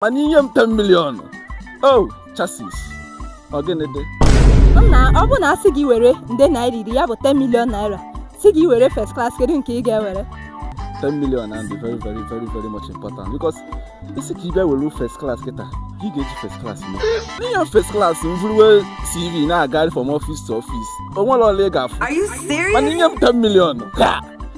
mana inye m 10 million o oh, Jesus ọ gịnị dị nna ọ bụ na asị gị were nde naira iri ya bụ 10 million naira sị gị were first class kedu nke ị ga-ewere 10 million and very very very very much important because ị sị ka ị bịa were first class kịta gị ga-eji first class mee inye m first class m vuruwe cv na-agagharị from office to office o nwere ọlụ ị ga-afụ mana inye m 10 million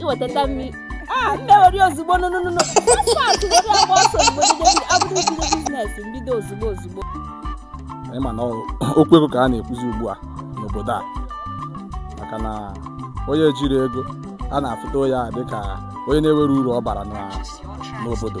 iweta 10 million ah, a m ewere ozugbo nụnụnụnụ paspọt were agba ọsọ ozugbo abụrụ bido business mbido ozugbo ozugbo ị ma na okwu ego ka a na-ekwuzi ugbu a n'obodo a maka na onye jiri ego a na-afụta ya dịka onye na-ewere uru ọ bara n'obodo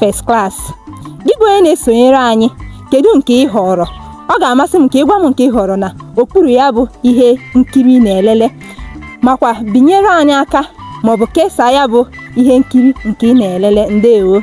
First Class. Gị bụ onye na-esonyere anyị, kedu nke ị họọrọ? Ọ ga-amasị m ka ị gwa m nke ị họọrọ na okpuru ya bụ ihe nkiri ị na-elele makwa binyere anyị aka maọbụ kesaa ya bụ ihe nkiri nke ị na-elele. Ndewo!